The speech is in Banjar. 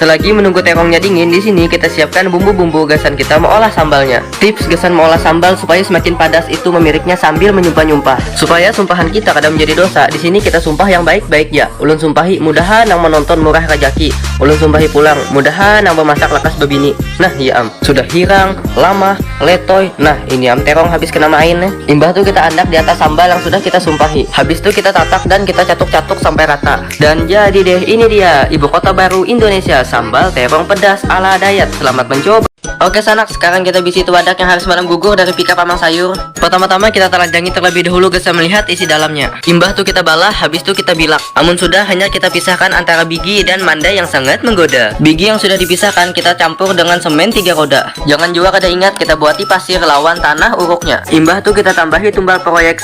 Selagi menunggu terongnya dingin, di sini kita siapkan bumbu-bumbu gasan kita meolah sambalnya. Tips gasan meolah sambal supaya semakin padas itu memiriknya sambil menyumpah-nyumpah. Supaya sumpahan kita kada menjadi dosa, di sini kita sumpah yang baik-baik ja. Ulun sumpahi, mudaha nang menonton murah rajaki. Ulun sumpahi pulang, mudaha nang bemasak lakas bebini. Nah, iya am. Sudah hirang, lamah, letoy, nah ini am terong habis kena main ne. Imbah tu kita andak di atas sambal yang sudah kita sumpahi. Habis tu kita tatak dan kita catuk-catuk sampai rata. Dan jadi deh ini dia ibu kota baru Indonesia sambal terong pedas ala dayat selamat mencoba. Oke sanak, sekarang kita bisi itu wadah yang harus malam gugur dari pika pamang sayur. Pertama-tama kita telajangi terlebih dahulu gasan melihat isi dalamnya. Imbah tu kita balah, habis tu kita bilak. Amun sudah, hanya kita pisahkan antara bigi dan manda yang sangat menggoda. Bigi yang sudah dipisahkan kita campur dengan semen tiga roda. Jangan jua kada ingat kita buati pasir lawan tanah uruknya. Imbah tu kita tambahi tumbal proyek